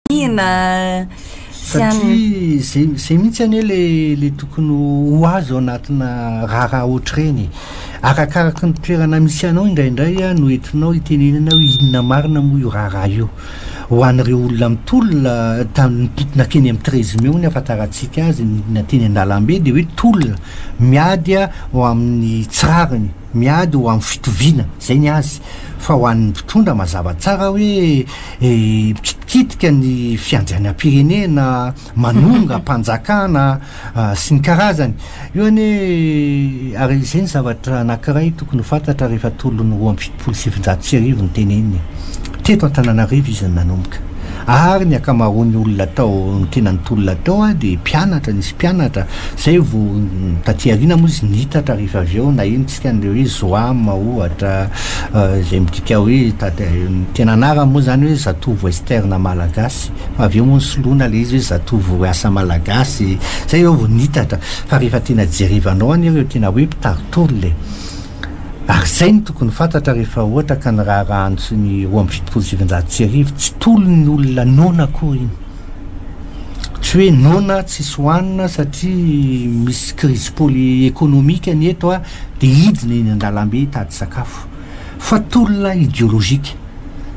fitoniana sy an Satria zay zay mihitsy anie le le tokony ho ho azy ao anatina raharaha ohatr'ireny e. Arakaraky ny toerana misy anao indraindray a no entinao hitenenana hoe inona marina moa io raharaha io. Ho an'ireo olona mitolona ta- nitontona teny amin'ny treize mai hono ahafantarantsika azy ny olona teny an-dalambe dia hoe tolona, miady a ho amin'ny tsy rariny. miady ho amin'ny fitoviana, izay ny azy, fa ho an'ny mpitondra mazava tsara hoe mikitikitika ny fiandrianam-pirenena, manonga mpanjakana sy ny karazany. Io anie ary izay ny zavatra anankiray tokony ho fantatra rehefa tolon'ny roa amby fitopolo sy sivinjato sy arivo no teneniny. Teto Antananarivo izy no nanomboka. Ary ny akamaroan'ny olona tao tena nitolona tao a dia mpianatra, nisy mpianatra zay vo taty aoriana moa izy niitatra rehefa avy eo na ino tsika an'ireo hoe Zoam ohatra izay midika hoe taty tena anarany moa zany hoe zatovo western malagasy fa avy eo moa nisoloana le izy hoe zatovo asa malagasy zay eo vo niitatra fa rehefa tena jerevanao anie ireo tena hoe mpitarintolona e. Ary izay no tokony fantatra rehefa ohatra ka ny raharaha antso ny roa amby fitopolo sy sivinjato sy arivo tsy tolon'ny olona noana akory iny. Tsy hoe noana tsisy hohanina satria misy crise poli ekonomika ny eto ah dia hidina eny an-dalambe hitady sakafo. Fa tolona ideolojika.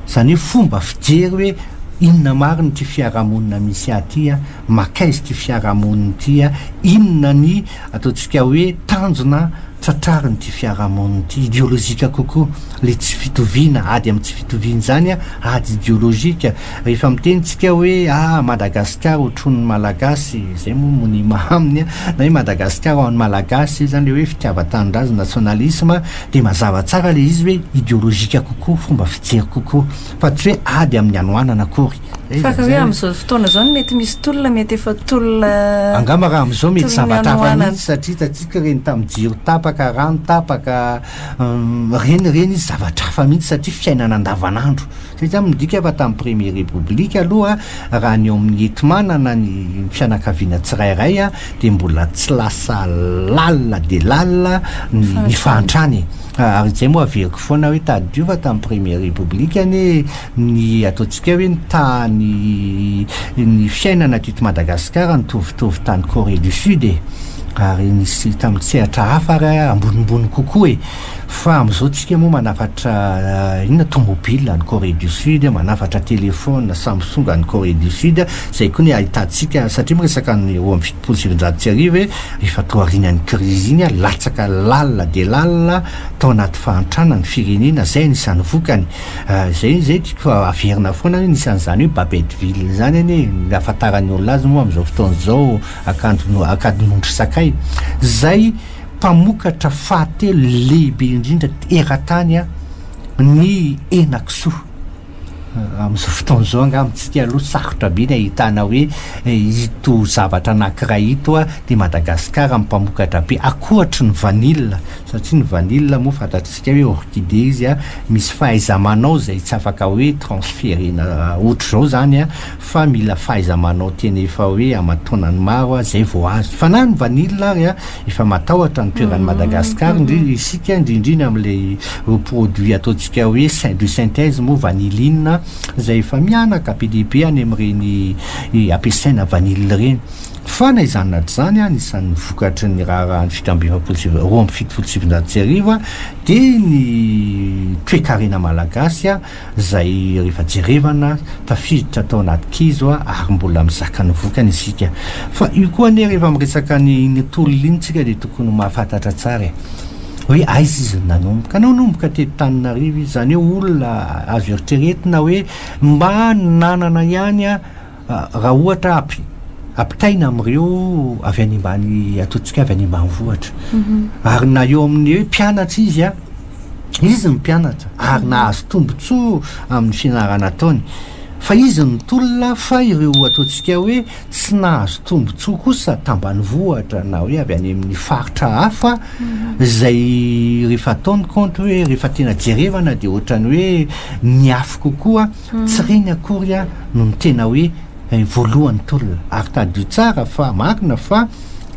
Izany hoe fomba fijery hoe inona marina ity fiarahamonina misy ahy ity ah. Makaiza ity fiarahamonina ity a! Inona ny ataontsika hoe tanjona tratrarin'ity fiarahamonina ity? Ideolojika kokoa ilay tsy fitoviana, ady amin'ny tsy fitoviana izany a, ady ideolojika. Rehefa miteny tsika hoe a! Madagasikara otronin'ny Malagasy, izay moa monima aminy a, na hoe Madagasikara ho an'ny Malagasy, izay izany ilay hoe fitiavan-tanindrazana, nationalisme, dia mazava tsara ilay izy hoe ideolojika kokoa, fomba fijery kokoa, fa tsy hoe ady amin'ny hanoanana akory. Fa raha hoe amin'izao fotoana izao no mety misy tolona, mety efa tolona eh, Angamba raha amin'izao mety Tolona zavatra hafa hanohanana. mihitsy satria hitantsika ireny tamin'ny jiro tapaka, rano tapaka, hum, ireny ireny izy zavatra hafa mihitsy satria fiainana andavanandro. Zay izany midika fa tamin'ny premier repoblika aloha raha ny ao amin'ny hetmana na ny fianakaviana tsirairay a, dia mbola tsy lasa lalina dia lalina ny ny fahantrana e. Ary izay moa averiko foana hoe tadidio fa tamin'ny premier repoblika anie ny ataontsika hoe ny tany ny fiainana teto Madagasikara nitovitovy tany Corée du Sud e ary nisy tamin'ny sehatra hafa ary ambonimbony kokoa e fa amin'izao tsika moa manafatra inona tomobile any Corée du Sud manafatra téléphone Samsung any Corée du Sud izay koa ny ahitantsika satria miresaka ny roa amby fitopolo sy sivinjato sy arivo e efa toa aorianan'ny crise iny latsaka lalina dia lalina tao anaty fahantrana ny firenena izay anisan'ny vokany Zay izy zay tiko fa averina foana anie nisy an'izany hoe Babetteville zany anie ny ahafantaran'ny olona azy moa amin'izao fotoana izao akanjo ankadin'ondry sakay. Zay mpamokatra fahatelo lehibe indrindra eran-tany an, ny henakisoa. Amin'izao fotoana izao angaha amintsika aloha sarotra be ny ahitana hoe ito zavatra anankiray ito an, dia Madagasikara no mpamokatra be ankoatry ny vanille satria ny vanille moa fantatr'isika. Midika hoe orchidée izy an, misy fahaiza-manao izay tsy afaka hoe transférena ohatr'izao izany an, fa mila fahaiza-manao tena efa hoe aman-taonany maro an, izay vao azo. Fa na ny vanille ary an, efa matahotra ny toeran'i Madagascar indrindra isika, indrindrindra amin'ilay ireo produits ataontsika hoe de synthèse moa vanilline an, izay efa mihanaka be dia be any amin'ireny ampiasaina vanille ireny. Fa na izany na tsy izany, anisan'ny vokatry ny raharahan'ny fito amby efapolo sy roa amby fitopolo sy sivinjato sy arivo dia ny toekarena malagasy izay rehefa jerevana tafiditra tao anaty kizo ary mbola mizaka ny vokany isika. Fa io koa anie rehefa miresaka ny iny tolona iny tsika dia tokony ho mahafantatra tsara e! hoe aiza izy no nanomboka. Nanomboka teto Taninarivo izy, izany hoe olona azo eritreretina hoe mba nanana ihany Raha ohatra ampitaina amin'ireo avy any ambany, ataontsika avy any ambanivohitra, ary na eo amin'ny hoe mpianatra izy an, izy ny mpianatra ary nahazo tombontsoa amin'ny fianarana ataony, fa izy ny tolona fa ireo ataontsika hoe tsy nahazo tombontsoa kosa tambanivohitra na hoe avy any amin'ny faritra hafa izay rehefa atao ny kaonty hoe rehefa tena jerevana dia ohatran'ny hoe niafy kokoa Tsy reny akory an no ny tena hoe voalohany tolona ary tadidio tsara fa marina fa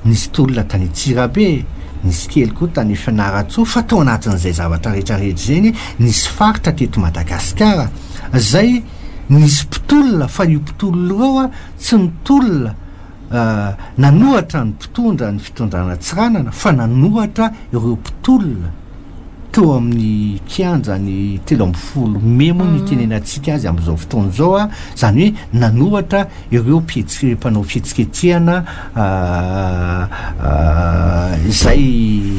nisy tolona tany Antsirabe, nisy kely koa tany Fianarantsoa fa tao anatin'izay zavatra rehetra rehetra izay anie nisy faritra teto Madagasikara izay nisy mpitolona fa io mpitolona io tsy nitolona nanohatra ny mpitondra ny fitondrana Tsiranana fa nanohatra ireo mpitolona teo amin'ny kianja ny telo ambin'ny folo mey moa ny itenenantsika azy amin'izao fotoana izao a, izany hoe nanohatra ireo mpihetsi- mpanao fihetsiketsehana izay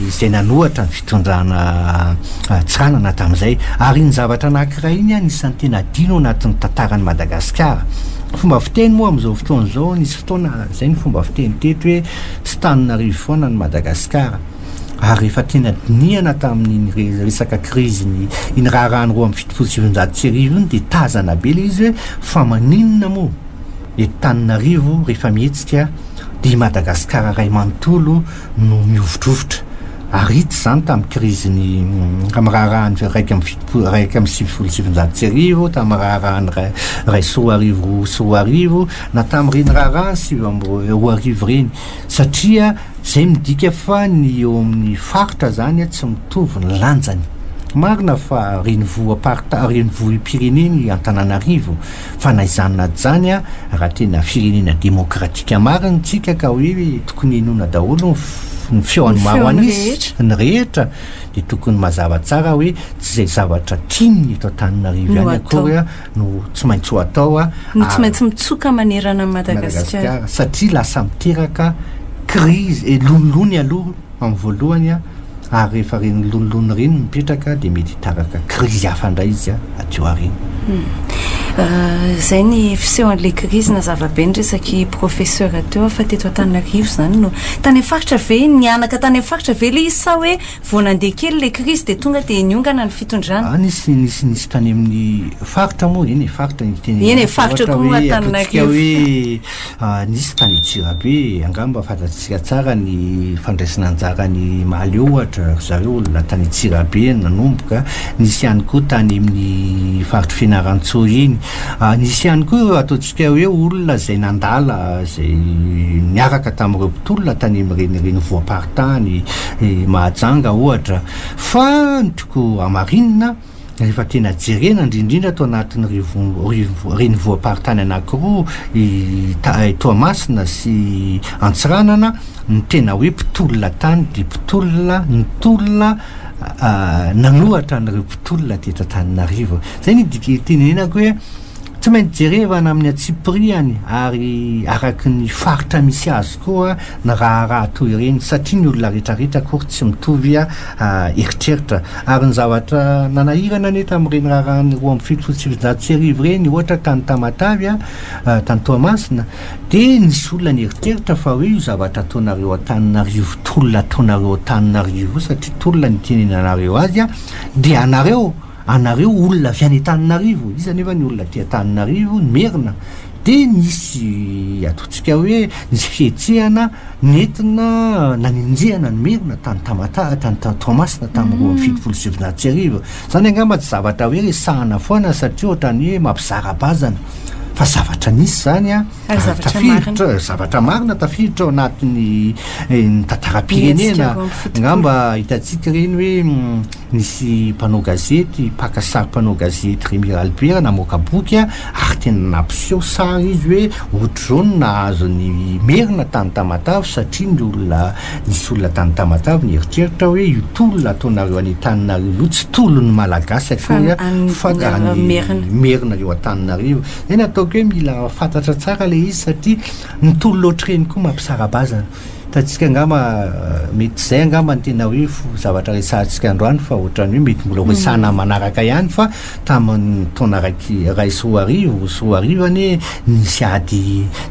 izay nanohatra ny fitondrana. tondrana an-tsanana tamin'izay. Ary iny zavatra anankiray iny anisan'ny tena adino ao anatin'ny tantaran'i Madagasikara. Fomba fiteny moa amin'izao fotoana izao, nisy fotoana izay ny fomba fiteny teto hoe tsy tanin'arivo foana ny Madagasikara. Ary rehefa tena dinihana tamin'iny resaka krizin'ny iny raharahan'ny roa amby fitopolo sy sivinjato sy arivo iny dia tazana be ilay izy hoe fa maninona moa eto tanin'arivo rehefa mihetsika dia i Madagasikara iray manontolo no mihovitrovitra. Ary hita izany tamin'ny krizin'ny, tamin'ny raharahan'ny iraika amby fitopolo, iraika amby sivifolo sy sivinjato sy arivo, tamin'ny raharahan'ny iray, iray sy roa arivo, roa sy roa arivo, na tamin'ireny raharahan'ny sivy amby roa, roa arivo ireny. Satria izay midika fa ny eo amin'ny faritra izany tsy mitovy ny lanjany. Marina fa renivohi-parita, renivohi-pirenena i Antananarivo, Fa na izany na ijany a, raha tena firenena demokratika marina isika ka hoe tokony hinoana daholo ny ny feon'ny maro an'isa, ny rehetra, dia tokony mazava tsara hoe tsy izay zavatra tian'ny eto Antananarivo ihany akory no tsy maintsy ho atao a, no tsy maintsy mitsoka manerana an'i Madagasikara, satria lasa miteraka crise, eh, lonilony aloha Amin'ny voalohany ary rehefa reny lonilony reny mipetraka dia mety hitaraka krizy hafa indray izy aty aoriana. Izay ny fisehon'ilay krizy na zavabe ny resaky professeur teo fa teto Antananarivo izany no tany amin'ny faritra ve nihanaka tany amin'ny faritra ve ilay izy sa hoe vao nandeha kely ilay krizy dia tonga dia niongana ny fitondrana? Nisy nisy nisy tany amin'ny faritra moa eny e faritra ny teny eny e faritra koa Antananarivo. Nisy tany Antsirabe, angamba fantatsika tsara ny fandraisana anjara an'i Mahaleo ohatra, ry zareo olona tany Antsirabe no nanomboka, nisy ihany koa tany amin'ny faritr'i Fianarantsoa iny. Nisy ihany koa ireo ataontsika hoe olona izay nandala, izay niaraka tamin'ireo mpitolona tany amin'ireny renivohi-paritany, i Mahajanga ohatra. Fa ny tiako hamarina, Rehefa tena jerena, indrindrindra ato anatin'ny rivo- rivo- renivohim-paritany anankiroa, i ta- i Toamasina sy Antsiranana, ny tena hoe mpitolona tany dia mpitolona nitolona ah, nanohatra an'ireo mpitolona teto Antananarivo. Izay no idika- itenenako hoe, tsy maintsy jerevana amin'ny antsipiriany ary araka ny faritra misy azy koa ny raharaha toy ireny satria ny olona rehetrarehetra akory tsy mitovy eritreritra ary ny zavatra nanahirana anie tamin'ireny raharaha ny roa amby fitopolo sy sivinjato sy arivo ireny ohatra tany Tamatavy tany Toamasina dia nisy olona nieritreritra fa hoe io zavatra ataonareo Antananarivo tolona ataonareo Antananarivo satria tolona ny itenenanareo azy dia anareo anareo olona avy any Antananarivo, iza anefa ny olona aty Antananarivo, ny Merina, dia nisy ataontsika hoe nisy fihetsehana nentina nanenjehana ny Merina tany Tamatave, tany Toamasina tamin'ny roa amby fitopolo sy sivinjato sy arivo. Izany angamba tsy zavatra hoe resahana foana satria ohatran'ny hoe mampizara bazana fa zavatra nisy izany an. ary zavatra marina zavatra marina tafiditra ao anatin'ny eh, ny tantaram-pirenena angamba hitantsika ireny hoe mm, nisy mpanao gazety mpaka sary mpanao gazety remira albert namoaka boky a ary tena nampiseho sary izy hoe ohatr'izao no nahazo ny merina tany tamatavy satria ny olona nisy olona tany tamatavy ny eritreritra hoe io tolona ataonareo any an-taninareo io tsy tolon'ny malagasy akory a fa merina eo an-taninareo Zay ny ataoko hoe mila fantatra tsara le izy satria nitory loatr'ireny koa mampisara-bazana. Hitantsika angamba mety zay angamba ny tena hoe zavatra resahantsika androany fa ohatran'ny hoe mety mbola ho resahana manaraka ihany fa tamin'ny taona raiky iray sy roa arivo sy roa arivo anie nisy ady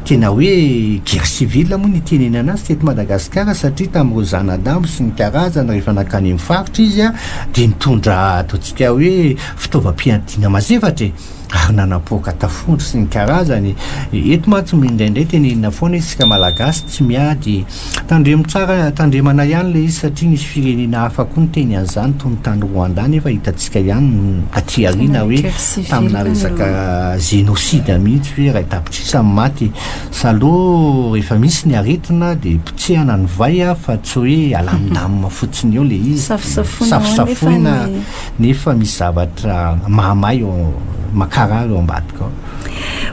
tena hoe guerre civile moa ny itenenana azy teto Madagasikara satria tamin'ireo zanadambo sy ny karazany rehefa nankany amin'ny faritra izy dia nitondra ataontsika hoe fitaovam-piadiana mazefatra e. ary nanapoaka tafondro sy ny karazany. Eto mantsy indraindray tenenina foana hoe isika Malagasy tsy miady. Tandremo tsara, tandremana ihany ilay izy satria nisy firenena hafa koa niteny an'izany toy ny tany Rwanda nefa hitantsika ihany aty aoriana hoe tamina resaka génocide mihitsy hoe iray tapitrisa ny maty. Saloo rehefa misy ny aretina dia potsehana ny vay fa tsy hoe alamindamina fotsiny eo ilay izy. Safosafoina nefa misy zavatra mahamay eo makarary eo ambadika ao.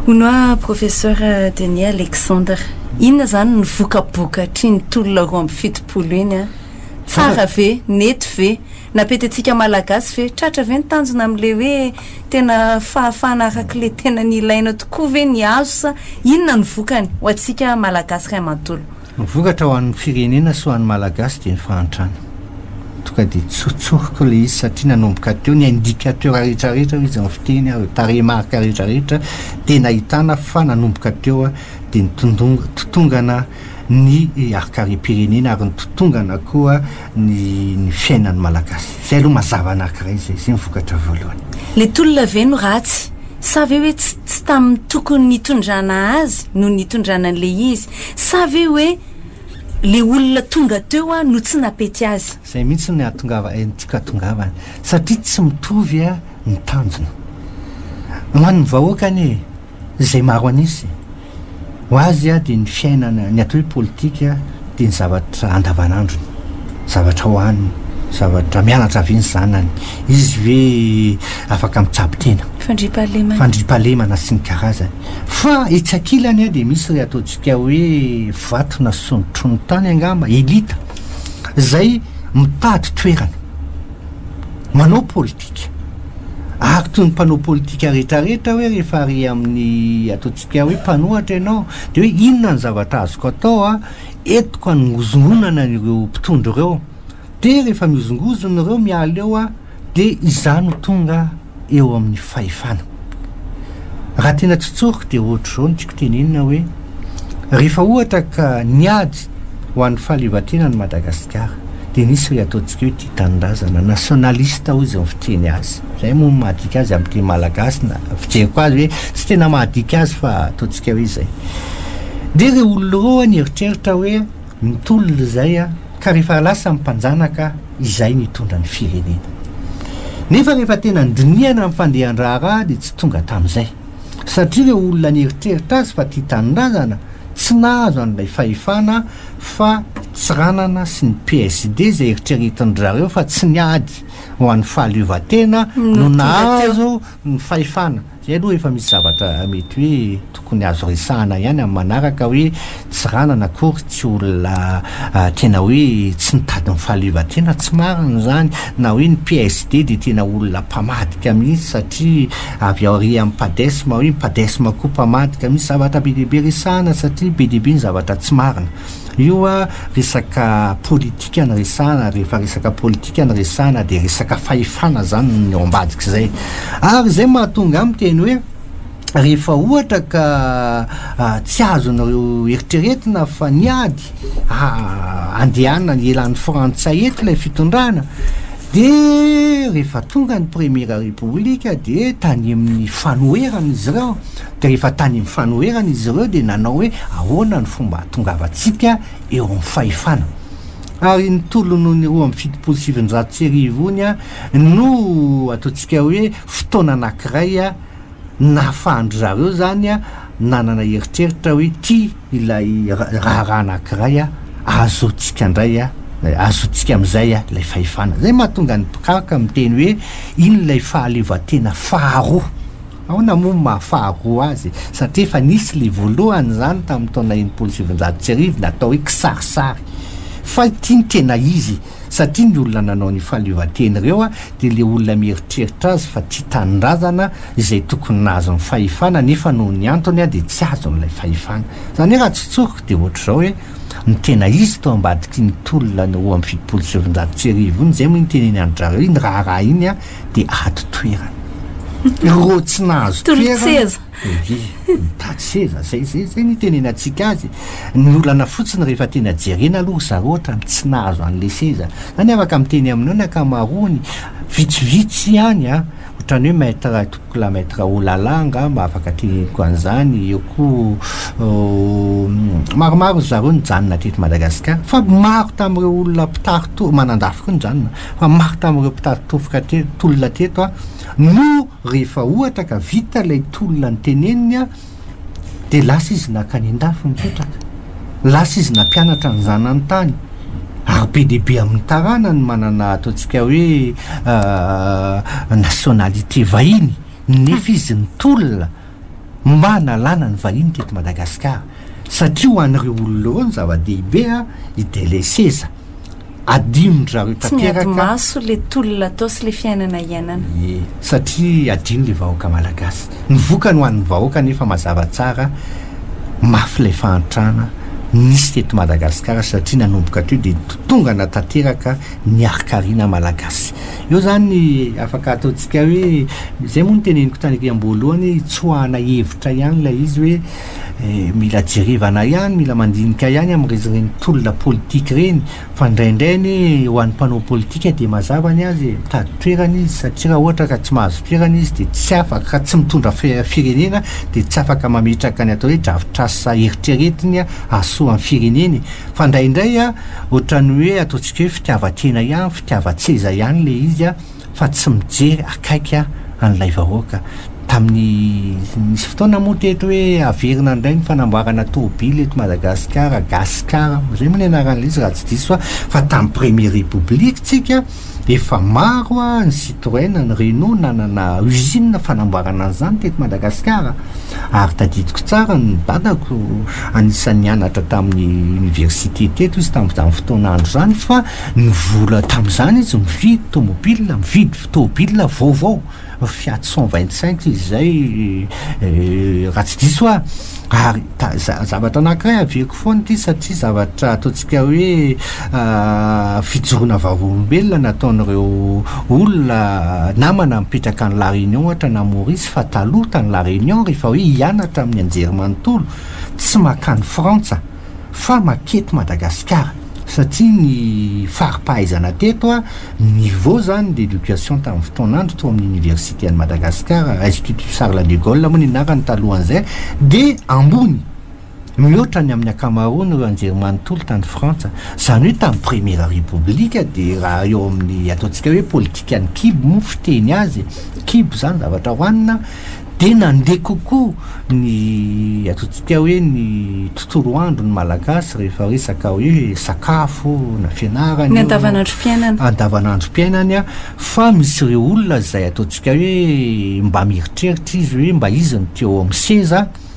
Hono aho Professeur Denis Alexandre, inona izany ny vokabokatr'iny tolona roa amby fitopolo iny an? Tsara ve? Nety ve? Napetentsika Malagasy ve? Tratra ve ny tanjona amin'ilay hoe tena fahafahana arak'ilay tena nilaina tokoa ve ny azo sa inona ny vokany ho antsika Malagasy ray manontolo? Ny vokatra ho an'ny firenena sy ho an'ny Malagasy dia ny fahantrana. Tonga dia tsotsoriko ilay izy satria nanomboka teo ny indicateur rehetra rehetra hoy izy amin'ny fiteny ary tarehimarika rehetra rehetra dia nahitana fa nanomboka teo dia ny totongana ny hakarem-pirenena ary ny totongana koa ny ny fiainan'ny Malagasy. Izay aloha mazava anankiray izay, izay ny vokatra voalohany. Ilay tolona ve no ratsy? Sa ve hoe tsy tsy tamin'ny tokony nitondrana azy no nitondrana an'ilay izy? Sa ve hoe le olona tonga teo a no tsy napety azy? Zay mihitsy ny ahatongava eh ny tiako ahatongavana satria tsy mitovy a ny tanjona. Ho an'ny vahoaka anie e, zay maro anisy, ho azy a dia ny fiainana, ny atao hoe politika dia ny zavatra andavanandrony, zavatra hohaniny, zavatra mianatra avy ny zanany, izy ve afaka mitsabo tena? Fandriampahalemana. Fandriampahalemana sy ny karazany. Fa etsy ankilany an dia misy ilay ataontsika hoe vato na sontro ny tany angamba, elite, izay mitady toerana, manao politika. Ary toy ny mpanao politika rehetrarehetra hoe rehefa ary amin'ny ataontsika hoe mpanohatra ianao dia hoe inona ny zavatra azoko atao an, entiko hanozongonana ireo mpitondra ireo. Dia rehefa mihozongozona ireo miala eo aho dia izaho no tonga eo amin'ny fahefana. Raha tena tsy tsoriko dia ohatr'izao no tiako tenenina hoe, rehefa ohatra ka niady ho an'ny fahaleovantenany i Madagasikara dia nisy ilay ataontsika hoe tia tanindrazana, nationaliste hoy izay fiteny azy. Izay moa no mahadika azy amin'ny teny malagasy na fijeriko azy hoe tsy tena mahadika azy fa ataontsika hoe izay. Dia ireo olona ireo aho nieritreritra hoe, Ny tolona izay an, ka rehefa lasa ny mpanjanaka izay nitondra ny firenena. Nefa rehefa tena nidinihana ny fandehan-draharaha dia tsy tonga tamin'izay. Satria ireo olona nieritreritra azy fa tia tanindrazana, tsy nahazo an'ilay fahefana fa Tsiranana sy ny PSD izay eritreretin-dry zareo fa tsy ny ady ho an'ny fahaleovantena no nahazo Ny fahefana, izay aloha efa misy zavatra mety hoe tokony azo resahana ihany amin'ny manaraka hoe Tsiranana akory tsy olona tena hoe tsy nitady ny fahaleovantena, tsy marina izany, na hoe ny PSD dia tena olona mpamadika mihitsy satria avy aorian'ny Padesm hoe ny Padesm koa mpamadika, misy zavatra be dia be resahana satria be dia be ny zavatra tsy marina. Io a, resaka politika no resahana, rehefa resaka politika no resahana dia resaka fahefana izany no eo ambadik'izay. Ary izay mahatonga ahy miteny hoe, rehefa ohatra ka tsy azon'ireo eritreretina fa niady handehanana ny elan'ny Frantsay eto ilay fitondrana, dia rehefa tonga ny Premiera Repoblika dia tanimin'ny fanoherana izy ireo, Rehefa tany amin'ny fanoherana izy ireo dia nanao hoe ahoana ny fomba hahatongavantsika eo amin'ny fahefana. Ary ny tolon'ny roa amby fitopolo sy sivinjato sy arivo ony no ataontsika hoe fotoana anankiray nahafahan-dry zareo izany nanana eritreritra hoe ity ilay raharaha anankiray ahazoantsika indray, ahazoantsika amin'izay ilay fahefana. Izay mahatonga ny mpikaroka miteny hoe iny ilay fahaleovantena faharoa. Aona moa no maha faharoa azy? Satria efa nisy ilay voalohany izany tamin'ny taona enimpolo sy sivinjato sy arivo natao hoe kisarisary. Fa ity no tena izy, satria ny olona nanao an'io fahaleovantena ireo dia ilay olona mieritreritra azy fa tia tanindrazana, izay tokony nahazo ny fahefana nefa noho ny antony dia tsy azony ilay fahefana. Izany hoe raha tsotsoriko dia ohatr'izao hoe, ny tena izy tao ambadik'iny tolona ny roa amby fitopolo sy sivinjato sy arivo iny, izay moa iny tenenindry zareo iny raharaha iny an, de ato toerana ireo tsy nahazo toerana de mitady seza zay zay zay ny tenenantsika azy ny olana fotsiny rehefa tena jerena aloha ry zareo ohatrany tsy nahazo an'le seza zany afaka miteny aminao ny ankamaroany vitsivitsy ihany a ohatrany hoe maître tompoko la maître olala angamba afaka teneniko an'izany eo koa maromaro ry zareo nijanona teto Madagasikara fa maro tamin'ireo olona mpitarito manandafy koa nijanona Fa maro tamin'ireo mpitady tofoka tolona hatreto no rehefa ohatra ka vita ilay tolona noteneniny dia lasa izy nankany an-dafy nipetraka. Lasa izy nampianatra ny zanany tany. Ary be dia be amin'ny tarana ny manana ataontsika hoe nationalité vahiny nefa izy nitolona. mba nalana ny vahiny teto Madagascar satria ho an'ireo olona ireo ny zava-dehibe i dele seza adinondry zareo tanteraka, tsy miady maso le tolona atao sy le fiainana iainana, ie satria adino le vahoaka Malagasy, ny vokany ho an'ny vahoaka anefa mazava tsara mafy ilay fahantrana nisy teto Madagascar satria nanomboka teo dia nitotongana tanteraka ny harikariana Malagasy. Eo zany ny afaka ataontsika hoe izay moa ny teneniko tany aty am-boalohany hoe tsoahana hevitra ihany ilay izy hoe eh, mila jerevana ihany, mila mandinika ihany amin'izy ireny tolona politika ireny fa indraindray anie ho an'ny mpanao politika dia mazava ny azy e, mitady toerana izy satria raha ohatra ka tsy mahazo toerana izy dia tsy afaka, ka tsy mitondra fe- firenena dia tsy afaka mametraka ny atao hoe drafitrasa eritreretiny hahasoa ny firenena e. Fa indraindray a, ohatran'ny hoe ataontsika hoe fitiavan-tena ihany, Tiavatseza ihany le izy a fa tsy mijery akaiky a an'ilay vahoaka. Tamin'ny nisy fotoana moa teto hoe haverina indray ny fanamboarana tobily eto Madagasikara, Gasikara, zay moa ny anaran'ilay izy raha tsy diso aho, fa tamin'ny premier repoblika tsika efa maro a ny Citroen, ny Renault nanana usine fanamboarana an'izany teto Madagasikara. Ary tadidiko tsara ny dadako anisan'ny nianatra tamin'ny université teto izy tamin'izany fotoana andro izany fa. Ny vola tamin'izany izy mividy tomobilina, mividy tomobilina vaovao, Fiat cent vingt cinq izy izay raha tsy diso aho, ary zavatra anankiray avihako foana ity satria zavatra ataontsika hoe fijoroana vavolombelona nataon'ireo olona namana mipetraka any La Réunion ohatra na Maurice fa taloha tany La Réunion rehefa hoe hianatra amin'ny anjerimanontolo tsy mankany Frantsa fa maketo Madagasikara satria ny faripahaizana teto a niveau zany d'education tamin'ny fotoan'andro tao amin'ny université an'i Madagasikara institut Charles de Gaulle moa ny anarany talohan'izay dia ambony mihoatra ny amin'ny ankamaroany ireo anjerimanontolo tany Frantsa izany hoe tamin'ny première république dia raha eo amin'ny ataontsika hoe politikan'ny kibo moa fiteny azy kibo izany zavatra hohanina dia nandeha kokoa ny ataontsika hoe ny tontolo andro ny Malagasy rehefa resaka hoe sakafo na fianarana io, ny andavanandrom-piainana, andavanandrom-piainany an, fa misy ireo olona izay ataontsika hoe mba mieritreritra izy hoe mba izy no te-ho eo amin'ny seza,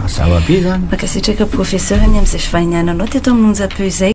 Mazava be zany. Mankasitraka Professeur ny amin'izay fivahiniananao teto amin'ny onjam-peo izay.